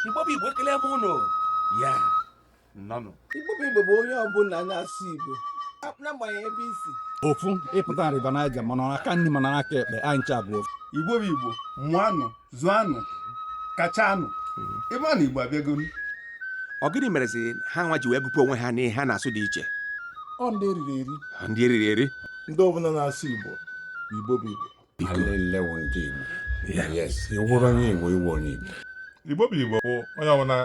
Igbo bụ Igbo ekele m ụnụ ya nọnụ Igbo bụ Igbo bụ onye ọbụla na-asụ Igbo n'agbanyeghị ebe i si ofu ị pụta na River Niger ma n'aka nri ma n'aka ekpe anyị ncha bụ ofu Igbo bụ Igbo mụanụ zụanụ kachanụ ịma na Igbo abịago ọ gịnị merezi ha nwa ji wee gụpụ onwe ha n'ihe ha na-asụ dị iche ọ ndị eriri eri ndị eriri eri ndị ọbụla na-asụ Igbo Igbo bụ Igbo Igbo bụ Igbo bụ onye ọbụla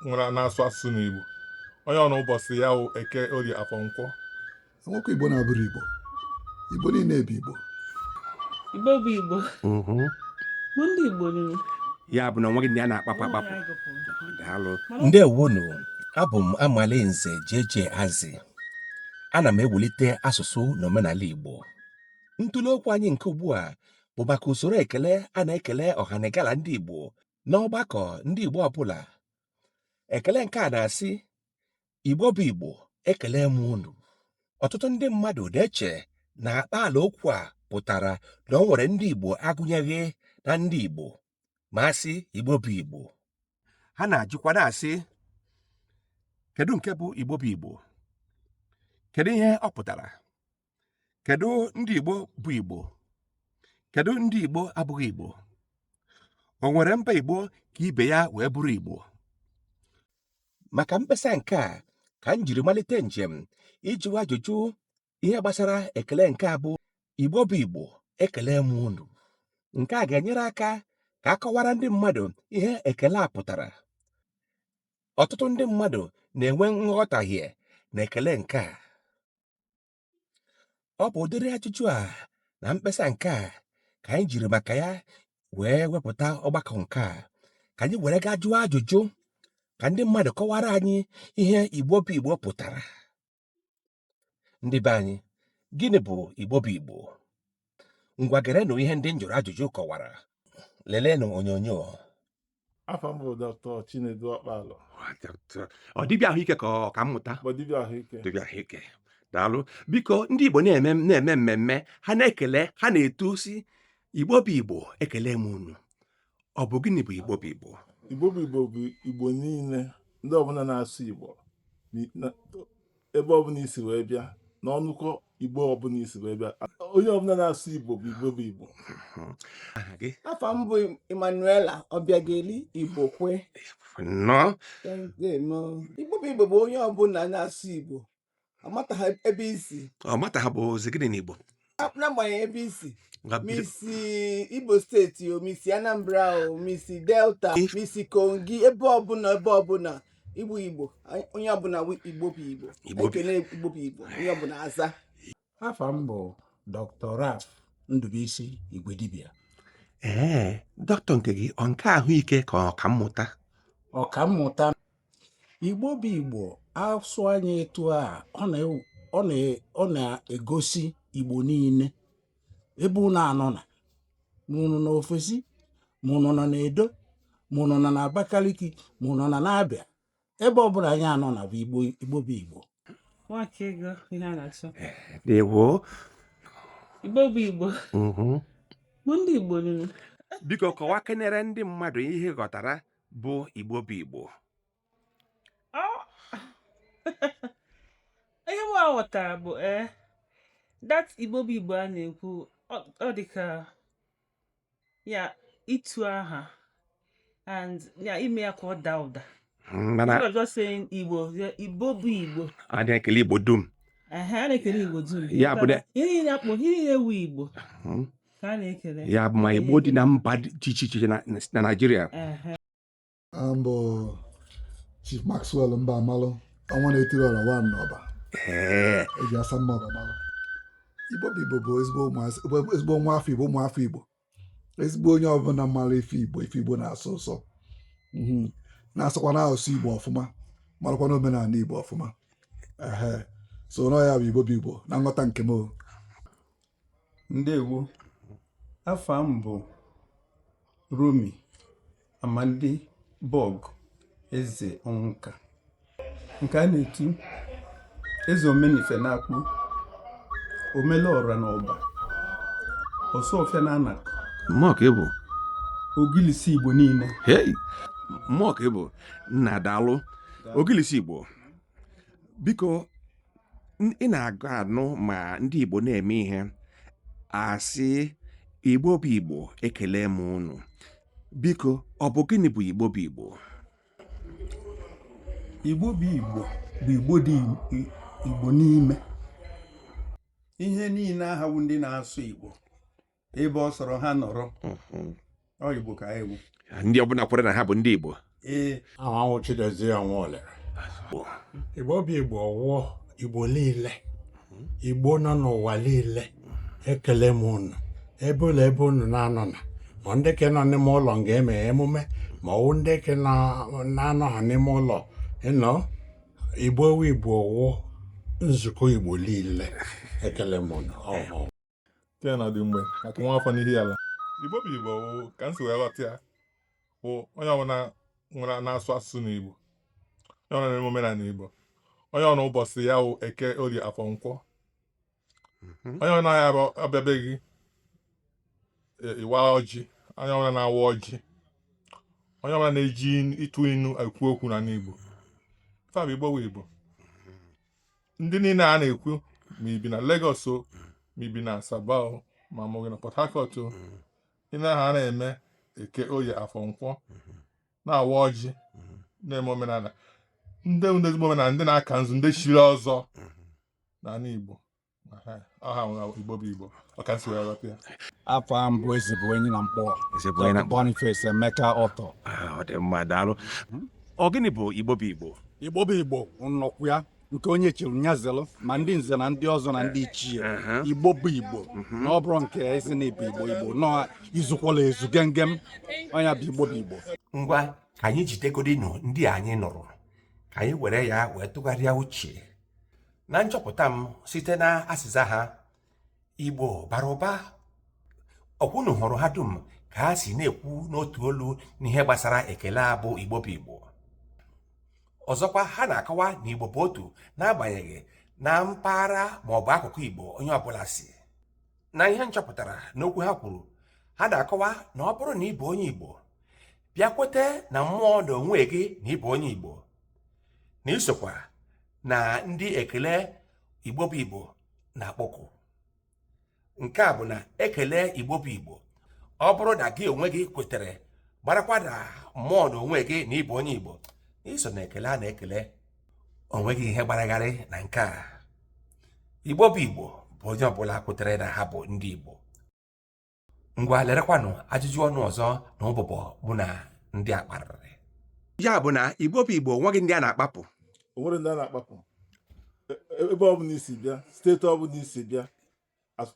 nwere na-asụ asụsụ n'Igbo onye ọbụla ụbọchị ya wụ eke orie afọ nkwọ e nwekwa Igbo na-abụrọ Igbo Igbo niile bụ Igbo Igbo bụ Igbo mhm. bụ ndị Igbo niile ya bụ na enweghị ndị a na-akpapụ akpapụ ndewonu abụ m Amalinze jeje azi ana m ewulite asụsụ na omenala igbo ntụle okwu anyị nke ugbu a bụ maka usoro ekele a na-ekele ọhanegala ndị Igbo n'ọgbakọ ndị Igbo ọbụla ekele nke a na-asị Igbo bụ Igbo ekele m unu ọtụtụ ndị mmadụ na-eche na akpaalaokwu a pụtara na o nwere ndị Igbo agụnyeghị na ndị Igbo ma a sị igbo bụ igbo ha na-ajụkwa na-asị kedu nke bụ igbo bụ igbo kedu ihe ọ pụtara kedu ndị igbo bụ igbo kedu ndị igbo abụghị igbo o nwere mba igbo ka ibe ya wee bụrụ igbo maka mkpesa nke a ka m jiri malite njem ịjụ ajụjụ ihe gbasara ekele nke a bụ igbo bụ igbo ekele m unu nke a ga-enyere aka ka a kọwara ndị mmadụ ihe ekele a pụtara ọtụtụ ndị mmadụ na-enwe nghọtahie na ekele nke a ọ bụ ụdịrị ajụjụ a na mkpesa nke a ka anyị jiri maka ya wee wepụta ọgbakọ nke a ka anyị were gaa jụọ ajụjụ ka ndị mmadụ kọwara anyị ihe igbo bụ igbo pụtara ndị be anyị gịnị bụ igbo bụ igbo ngwa gerenụ ihe ndị m jụrụ ajụjụ kọwara lelenụ onyonyo afa m bụ dọkịta chinedu ọkpala ọ dibịa ahụike ka ọkammụta bụ dibịa ahụike dibịa ahụike daalụ biko ndị igbo na-eme mmemme ha na-ekele ha na-etu sị igbo bụ igbo ekele m unu ọ bụ gịnị bụ igbo bụ igbo igbo bụ igbo bụ igbo niile ndị ọbụla na-asụ igbo ebe ọbụla i si wee bịa na ọnụkọ igbo ọbụla i si wee bịa onye ọbụla na-asụ igbo bụ igbo bụ igbo afa m bụ Emmanuela Ọbịageli Igbokwe igbo bụ igbo bụ onye ọbụla na-asụ igbo ọmata ha bụ zigiri n'igbo n'agbanyeghị ebe i si ma i si Imo steeti o ma i si Anambra o ma i si Delta ma i si Kogi ebe ọbụla ebe ọbụla ị bụ Igbo onye ọbụla Igbo bụ Igbo ekele Igbo bụ Igbo onye ọbụla aza afa m bụ dr ralph ndụbụisi igwedibịa ee dọkịta nke gị ọ nke ahụike ka ọka mmụta ọka mmụta igbo bụ igbo asụ anyị etu a ọ na- ọ na- ọ na-egosi igbo niile ebe unu anọ na ma unu nọ na ofesi ma unu nọ na edo ma unu nọ na abakaliki ma unu nọ na abịa ebe ọ bụla anyị anọ na bụ igbo igbo bụ igbo nwakaego ihe a na-achọ Ndewo. igbo bụ igbo Mhm. bụ ndị igbo niile biko kọwa kenere ndị mmadụ ihe ị ghọtara bụ igbo bụ igbo ihe m ghọtara bụ ee that igbo bụ igbo a na-ekwu ọ- ọ dị ka ya ịtụ aha and ya ime ya ka ọ daa ụda Mm, mana You're just saying Igbo. The Igbo bụ Igbo. a na-ekele Igbo dum Ehe, a na-ekele Igbo dum. Ya bụ na- Ihe niile a kpọ, ihe niile wu Igbo Mm, ka a na-ekele. ya bụ ma Igbo dị na mba dị iche iche na na Naịjirịa Ehe. m bụ Chief Maxwell mbamalụ ọnwa na-etiri ọra one n'ọba eji asa mma ọba malụ igbo bụ igbo bụ ezigbo nwa afọ igbo ụmụafọ igbo ezigbo onye ọbụla mara ife igbo ife igbo na-asọ ụsọ mhm. na-asụkwa na asụsụ igbo ọfụma marakwa na omenala igbo ọfụma so na ọ ya bụ igbo bụ igbo na nghọta nke m ndewo afa m bụ Rommy Amandi Bọgụ Ezeonwuka nke a na-etu eze omenife na akpo omelọra na ọba ọsọfịa na anaku mmụọ ka ị bụ ogilisi igbo niile hei mmụọ ka ị bụ nna daalụ ogilisi igbo biko ị na-aga anụ ma ndị Igbo na-eme ihe a sị Igbo bụ Igbo ekele m unu biko ọ bụ gịnị bụ Igbo bụ Igbo Igbo bụ Igbo bụ Igbo dị Igbo n'ime ihe niile aha wu ndị na-asụ Igbo ebe ọ sọrọ ha nọrọ Mhm. ọ igbo ka anyị bụ ndị ọbụla kwere na ha bụ ndị igbo ee aha wụ chidozie ọnwa olere igbo bụ igbo ọwụọ igbo niile igbo nọ n'ụwa niile ekele m unu ebe ọbụla ebe unu na-anọ na ma ndị ke nọ n'ime ụlọ nga eme emume ma ọwụ ndị ke na- na-anọha n'ime ụlọ ị nọ igbo wụ igbo ọwụọ nzukọ igbo niile ekele m unu ọ wụ nke na dị mgbe maka nwa afọ n'Ihiala igbo bụ igbo ka m si wee ghọta ya bụ onye ọbụla nwere na-asụ asụsụ na igbo onye ọbụla na-eme omenala igbo onye ọbụla ụbọchị ya wụ eke orie afọ nkwọ mhm. onye ọbụla ya abịa be gị e, ịwa ọjị onye ọbụla na-awa ọjị onye ọbụla na-eji ịtụ inu ekwu okwu na n'igbo fa bụ igbo bụ igbo ndị niile a na-ekwu ma i bi na Lagos o ma i bi na Asaba o ma a mụ gị na Port Harcourt o ị na-aha a na-eme eke oye afọ nkwọ na-awa ọjị na-eme omenala ndị bụ ndị ezigbo omenala ndị na-aka nzu ndị chiri ọzọ n'ala Igbo afa m bụ ezigbo enyi na Nkpọ Boniface Emeka Ọtọ ah, ọ dị mma daalụ ọ gịnị bụ Igbo bụ Igbo Igbo bụ Igbo nnọkwu ya nke onye chiri nyazelụ ma ndị nze na ndị ọzọ na ndị ichie igbo bụ igbo mhm. na ọ bụrụ nke ezi na ị bụ igbo igbo nọ izukwala ezu gengem onye bụ igbo bụ igbo ngwa ka anyị jidegodinu ndị anyị nụrụ ka anyị were ya wee tụgharịa uche na nchọpụta m site na asịza ha igbo bara ụba ọ kwa unu hụrụ ha dum ka ha si na-ekwu n'otu olu n'ihe gbasara ekele a bụ igbo bụ igbo ọzọkwa ha na-akọwa na igbo bụ otu n'agbanyeghị na mpaghara ma ọ bụ akụkụ igbo onye ọbụla si na ihe m chọpụtara n'okwu ha kwuru ha na-akọwa na ọ bụrụ na ị bụ onye igbo bịa kwete na mmụọ na onwe gị na ị bụ onye igbo na i sokwa na ndị ekele igbo bụ igbo na-akpọku nke a bụ na ekele igbo bụ igbo ọ bụrụ na gị onwe gị kwetere gbarakwa na mmụọ na onwe gị na ị bụ onye igbo i so na ekele a na-ekele o nweghị ihe gbara gharịị na nke a igbo bụ igbo bụ onye ọbụla kwetere na ha bụ ndị igbo ngwa lerekwanụ ajụjụ ọnụ ọzọ na ụbụbọ mụ na ndị a kparịrị ya bụ na igbo bụ igbo nweghị ndị a na-akpapụ onwere ndị a na-akpapụ E- e- ebe ọ bụla i si bịa steeti ọ bụla i si bịa as-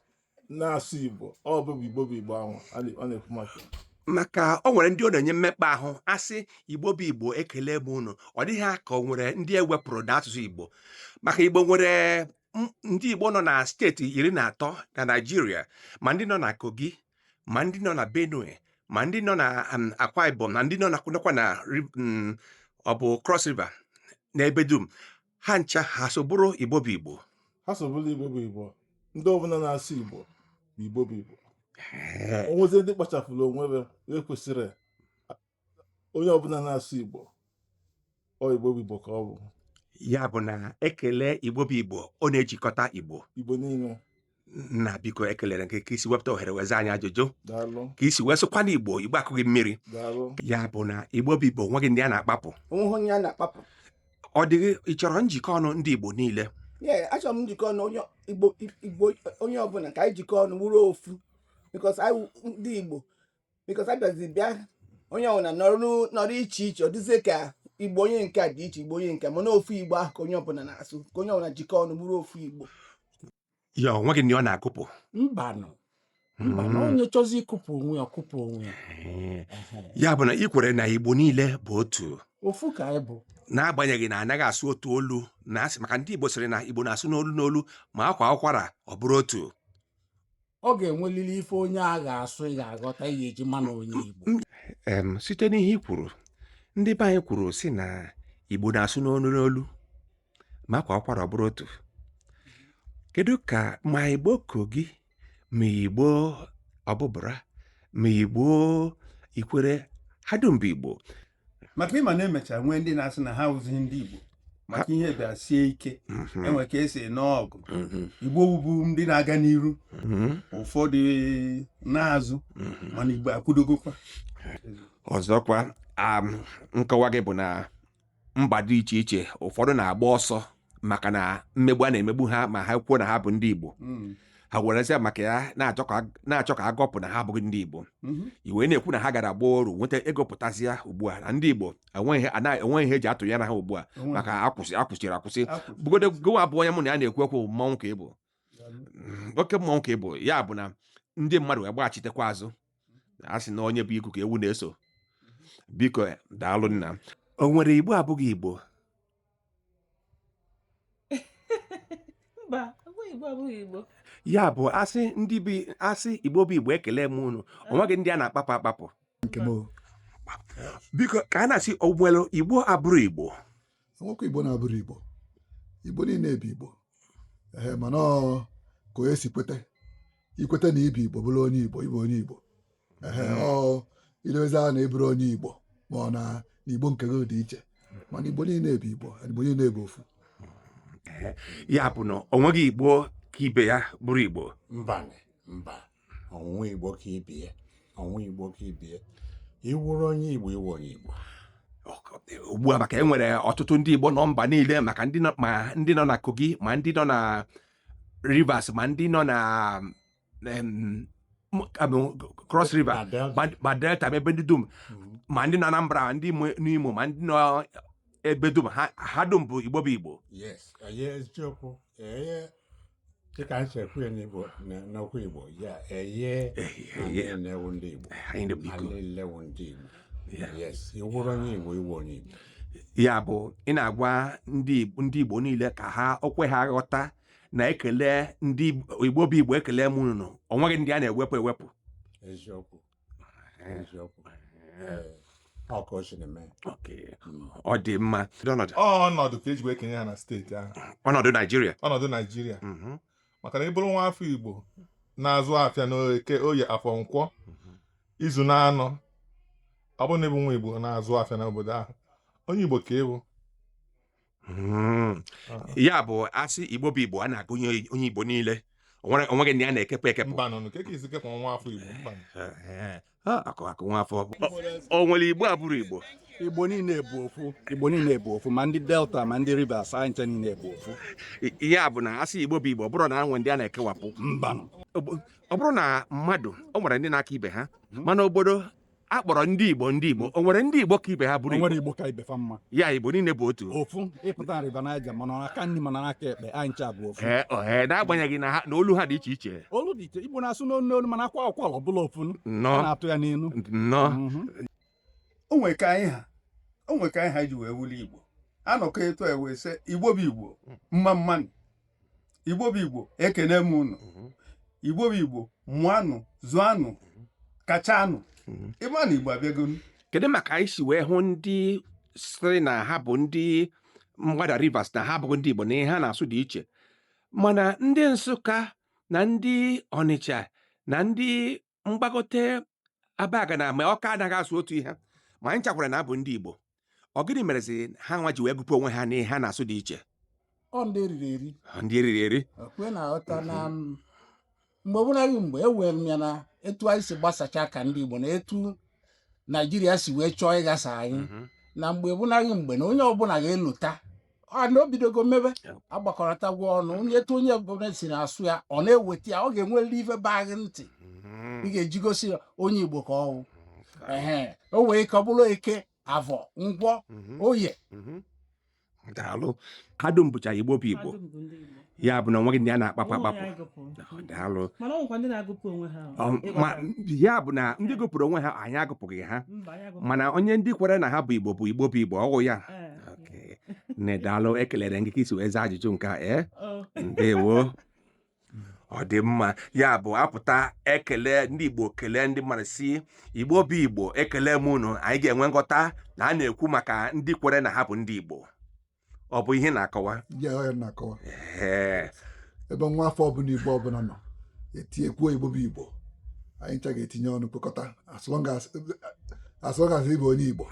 na-asụ igbo ọ bụ igbo bụ igbo ahụ a na- ọ na-ekwu maka ya. maka o nwere ndị ọ na-enye mmekpa ahụ a sị igbo bụ igbo ekele m unu ọ dịrị ha ka o nwere ndị e wepụrụ na asụsụ igbo maka igbo nwere ndị Igbo nọ na steeti iri na atọ na Naịjirịa ma ndị nọ na Kogi ma ndị nọ na Benue ma ndị nọ na um, Akwa Ibom na ndị nọ nakwa na um, ọ bụ Cross River n'ebe dum ha ncha ha so bụrụ Igbo bụ Igbo ha so bụrụ Igbo bụ Igbo ndị ọbụla na-asụ Igbo bụ Igbo bụ Igbo onwezi ndị kpachapụrụ onwe ha ekwesịrị onye ọbụla na-asụ igbo ọ igbo bụ igbo ka ọ bụ ya bụ na ekele igbo bụ igbo ọ na-ejikọta igbo igbo niile nna biko ekelere m gị ka i si wepụta ohere wee za anyị ajụjụ daalụ ka i si wee sụkwa na igbo igbo akụghị mmiri daalụ ya bụ na igbo bụ igbo nweghị ndị a na-akpapụ onweghị onye a na-akpapụ ọ dịghị ị chọrọ njikọ ọnụ ndị igbo niile ye achọrọ m njikọ ọnụ onye igbo igbo onye ọbụla ka anyị jikọ ọnụ wụrụ ofu because anyị wụ ndị igbo because a bịazi bịa onye ọbụla nọrọ iche iche ọ dịzie ka igbo onye nke a dị iche igbo onye nke mana ofu igbo ahụ ka onye ọbụla na-asụ ka onye ọbụla jikọ ọnụ bụrụ ofu igbo ya onweghị ndị ọ na-akụpụ mbanụ mbanụ hmm. onye chọzi ịkụpụ onwe ya ọ kụpụ onwe ya ya bụ na ị kwere na igbo niile bụ otu ofu ka anyị bụ n'agbanyeghị na anaghị asụ otu olu na asị maka ndị igbo sịrị na igbo na-asụ n'olu n'olu ma a kwaa ụkwara ọ bụrụ otu ọ ga-enwelili ife onye a ga-asụ ị ga-aghọta ị ga-eji ma na onye Igbo em site n'ihe i kwuru ndị be anyị kwuru sị na igbo na-asụ n'olu n'olu ma a kwaa ụkwara ọ bụrụ otu kedu ka ma igbo Kogi ma igbo Obubra ma igbo Ikwere ha dum bụ igbo maka ịma na emecha nwee ndị na-asị na ha awụzighị ndị Igbo maka ihe bịa sie ike Mhm. enwe ka esi ene ọgụ Mhm. Igbo wụbụ ndị na-aga n'iru Mhm. ụfọdụ naa azụ Mhm. mana Igbo akwụdogokwa ọzọkwa am, nkọwa gị bụ na mba dị iche iche ụfọdụ na-agba ọsọ maka na mmegbu a na-emegbu ha ma ha kwuo na ha bụ ndị igbo Mm. ha werezie maka ya na-achọ ka na-achọ ka ha gọpụ na ha abụghị ndị igbo Mhm. i wee na-ekwu na ha gara gbaa oru nweta ego pụtazịa ugbu a na ndị igbo enweghị ihe- anaghị- enweghị ihe eji atụ ya na ha ugbu a Onwe- maka akwụsị akwụsịrị akwụsị Akwụ- bugodo gụwa bụ onye mụ na ya na-ekwu okwu mmanwụ ka ị bụ oke mmọnwụ ka ị bụ ya bụ na ndị mmadụ wee gbaghachitekwa azụ a sị na onye bu igu ka ewu na-eso biko daalụ nna o nwere igbo abụghị igbo mba enweghị igbo abụghị igbo ya bụ a sị ndị bi a sị igbo bụ igbo ekele m unu o nweghị ndị a na-akpapụ akpapụ nke m o. biko ka a na-asị o nwere igbo abụrọ igbo enwekwa igbo na-abụrọ igbo igbo niile bụ igbo ee mana ka onye si kweta ikweta na ịbụ igbo bụrụ onye igbo ịbụ onye igbo ee ọ ilezi a na ịbụrụ onye igbo ma ọ na igbo nke gị dị iche mana igbo niile bụ igbo igbo niile bụ ofu ya bụ na onweghị igbo ka ibe ya bụrụ igbo mba mba onweghị igbo ka ibe ya onweghị igbo ka ibe ya ịwụrụ onye igbo ịwụ onye igbo ugbu a maka enwere ọtụtụ ndị igbo nọ mba niile maka ma ndị nọ na kogi ma ndị nọ na rivers ma ndị nọ na cross river ma delta ma ebe ndị dum mm-hmm. ma ndị nọ anambra ma ndị n'imo ma ndị nọ ebe dum ha dum bụ igbo bụ igbo dịka anyị si ekwu ya n'Igbo na- n'okwu Igbo ya eye Eye. anyị niile wụ ndị Igbo anyị niile bụ Igbo anyị niile wụ ndị Igbo Ya. yes ịwụrụ onye Igbo ịwụ onye Igbo ya bụ ị na-agwa ndị Igbo- ndị igbo niile ka ha o kwe ha ghọta na ekele ndị Igbo- igbo bụ igbo ekele m unu o nweghị ndị a na-ewepụ ewepụ eziokwu eziokwu ọ ka o siri mee ọ dị mma ọnọdụ ọnọdụ ka eji wee kenye ha na steeti ahụ ọnọdụ naijiria ọnọdụ naijiria mhm. maka na ị bụrụ nwa afọ igbo na-azụ afịa n'eke oye afọ nkwọ mhm. izu n'anọ ọ bụrụ na ịbụ nwa igbo na-azụ afịa n'obodo ahụ onye igbo ka ịbụ Hmm. Ah. ya bụ asị igbo bụ igbo a na-agụnye onye igbo niile onwere onweghị ndị a na-ekepụ ekepụ mbanụ ka esi kepụ nwa afọ igbo mba Eh, ah, akụ akụ nwa afọ o nwere igbo abụrọ igbo igbo niile bụ ofu igbo niile bụ ofu ma ndị delta ma ndị rivers anyị ncha niile bụ ofu I- ihe a bụ na asị igbo bụ igbo ọ bụrọ na enwe ndị a na-ekewapụ mbanụ ọ bụ- ọ bụrụ na mmadụ o nwere ndị na-aka ibe ha mana obodo a kpọrọ ndị igbo ndị igbo o nwere ndị igbo ka ibe ha o bụrụ nwere igbo igbo ka ibe fa mma ya igbo niile bụ otu ofu ịpụta river niger ma n'aka nri ma n'aka ekpe anyị ncha bụ ofu ee ohe n'agbanyeghị na ha na olu ha dị iche iche olu dị iche igbo na-asụ n'olu n'olu mana akwa ụkwala ọ bụlụ ofu a nnọọ na-atụ ya n'ilu nnọọ Mhm. o nwere ka anyị ha o nwere ka anyị ha ji wee wụlụ igbo anọkọ etu a wee sị igbo bụ igbo mma mmanụ igbo bụ igbo ekene m unu mhm. igbo bụ igbo mụanụ zụanụ mhm. kachanụ mhm. ịma na igbo abịagonu kedu maka anyị si wee hụ ndị sịrị na ha bụ ndị mgbada rivers na ha abụghị ndị igbo na ihe ha na-asụ dị iche mana ndị nsụka na ndị ọnịcha na ndị mgbagote abagana ma ọka anaghị asụ otu ihe ma anyị ncha kwara na abụ ndị Igbo ọ gịnị merezi ha nwa ji wee gụpụ onwe ha n'ihe ha na-asụ dị iche ọ ndị eriri eri Ọ ndị eriri eri o kwe na-aghọta na m, mgbe ọbụla gị mgbe ewere m ya na etu anyị si gbasacha ka ndị Igbo na etu Naijiria si wee chọọ ịghasa anyị Mhm. na mgbe ọbụla gị mgbe na onye ọbụla ga-elota a na o bidogo mebe Yeah. agbakọrọtagwo ọnụ onye etu onye ọbụla si na-asụ ya ọ na-eweta ya ọ ga-enwerịrị ife baa gị ntị ị ga-eji gosi ya onye igbo ka ọ wụ ehe o wee ka ọ bụrụ eke avọ nkwọ oye daalụ ha dum bụcha igbo bụ igbo ya bụ na o nweghị ndị a na-akpapụ Ụmụ ya akpapụ gụpụrụ. daalụ mana ọ nwekwa ndị na-agụpụ onwe ha Ọ, ma ya bụ na ndị gụpụrụ onwe ha anyị agụpụghị ha mba ya gụpụrụ mana onye ndị kwere na ha bụ igbo bụ igbo bụ igbo ọ wụ ya Ee, Okay. nne daalụ ekelere gị ka i si wee zaa ajụjụ nke a ee ọ, ndewo ọ dị mma ya bụ a pụta ekele ndị igbo kelee ndị mmadụ sị igbo bụ igbo ekele m unu anyị ga-enwe nghọta na a na-ekwu maka ndị kwere na ha bụ ndị igbo ọ bụ ihe na-akọwa ya ọ ya na-akọwa ee ebe nwa afọ ọbụla igbo ọbụla nọ e kwuo igbo bụ igbo anyị ncha ga-etinye ọnụ kpokọta as long as as long as ị bụ onye igbo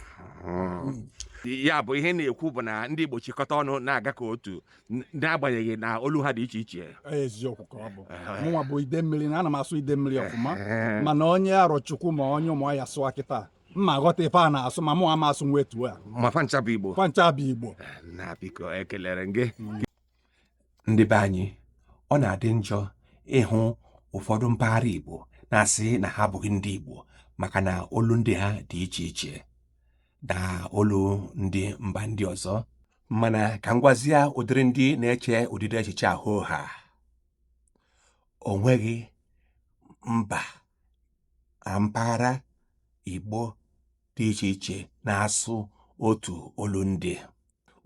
ya bụ ihe na-ekwu bụ na ndị igbo chịkọta ọnụ na-aga ka otu n- n'agbanyeghị na olu ha dị iche iche eziokwu ka ọ bụ mụnwa bụ idemmili na ana m asụ idemmili ọfụma mana onye arọchukwu ma onye ụmụahịa sụọ kịta m na-aghọta ife a na-asụ ma mụ ama asụnwu etu a ma fa ncha bụ igbo fa ncha bụ igbo na biko ekelere gị mm. ndị be anyị ọ na-adị njọ ịhụ ụfọdụ mpaghara igbo na-asị na ha abụghị ndị igbo maka na olundị ha dị iche iche na olundị mba ndị ọzọ mana ka m gwazie ụdịrị ndị na-eche ụdịdị echiche a hoo haa o nweghị mba na mpaghara Igbo dị iche iche na-asụ otu olundị.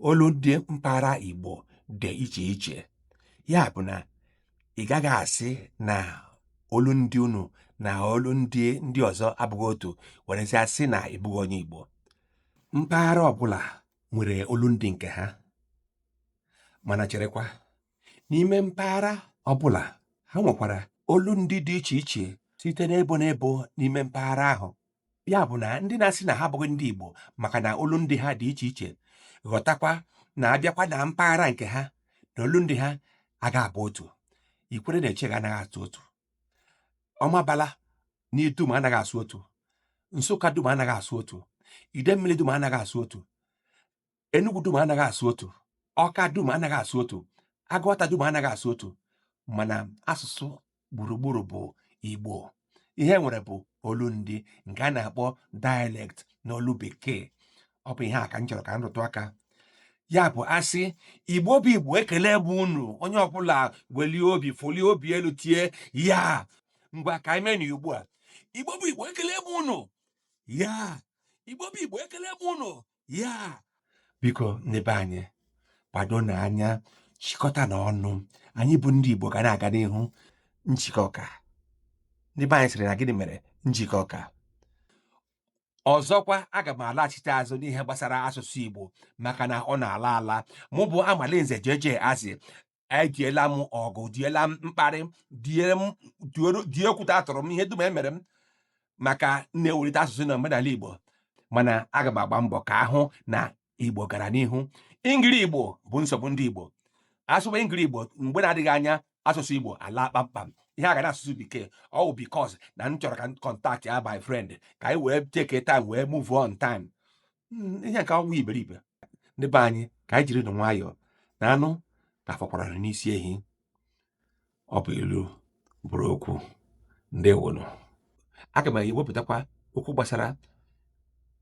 Olundị mpaghara Igbo dị iche iche. Ya bụ na ị gaghị asị na olundị unu na olundị ndị ọzọ abụghị otu werezia sị na ị bụghị onye Igbo. Mpaghara ọbụla nwere olundị nke ha mana cherekwa n'ime mpaghara ọbụla ha nwekwara olundị dị iche iche site n'ebo n'ebo n'ime mpaghara ahụ ya bụ na ndị na-asị na ha abụghị ndị Igbo maka na olundị ha dị iche iche ghọtakwa na a bịakwa na mpaghara nke ha na olundị ha aga abụ otu ikwere na eche ga anaghị asụ otu ọmabala dum anaghị asụ otu nsụka dum anaghị asụ otu idemmili dum anaghị asụ otu Enugu dum anaghị asụ otu Ọka dum anaghị asụ otu Agụata dum anaghị asụ otu mana asụsụ gburugburu bụ Igbo ihe e nwere bụ olundị nke a na-akpọ dialect n'olu bekee ọ bụ ihe a ka m chọrọ ka m rụtụ aka ya bụ a sị igbo bụ igbo ekele bụ unu onye ọbụla welie obi folie obi elu tie ya ngwa ka anyị mee na ugbu a igbo bụ igbo ekele bụ unu ya igbo bụ igbo ekele bụ unu ya biko ndị be anyị gbadonụ anya chịkọta na ọnụ anyị bụ ndị Igbo ga na-aga n'ihu njikọ ka ndị be anyị sịrị na gịnị mere njikọ ka ọzọkwa aga m alaghachite azụ n'ihe gbasara asụsụ Igbo maka na ọ na-ala ala mụ bụ Amalinze JJ Azị ediela m ọgụ diela m mkparị die okwute a tụrụ m ihe dum e mere m maka m na-ewelite asụsụ na omenala Igbo mana aga m agba mbọ ka a hụ na Igbo gara n'ihu ingiri Igbo bụ nsogbu ndị Igbo a sụba ingiri Igbo mgbe na-adịghị anya asụsụ Igbo alaa kpamkpam ihe a ga na asụsụ bekee ọ bụ because na m chọrọ ka m contactia my friend ka anyị wee take time wee move on time hmm, ihe nke a wụ iberibe ndị be anyị ka anyị jiri nụ nwayọọ na anụ ka fọkwara n'isi ehi ọ bụ ilu bụrụ okwu ndewonu aga m ewepụtakwa okwu gbasara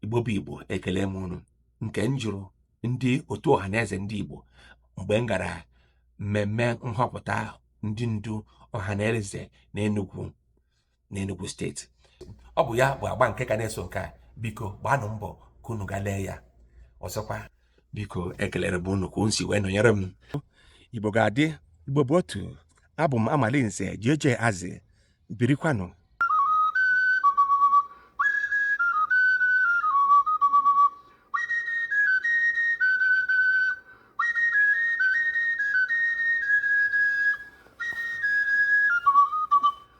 igbo bụ igbo ekele m unu nke m jụrụ ndị otu ọha na eze ndị igbo mgbe m gara mmemme nhọpụta ndị ndu ọha na eze na Enugu n'Enugu steeti ọ bụ ya bụ agba nke ga na-eso nke a biko gbaanụ mbọ ka unu gaa lee ya ọzọkwa biko ekelere m unu ka unu si wee nọnyere m igbo ga-adị igbo bụ otu abụ m Amalinze JJ Azị birikwanụ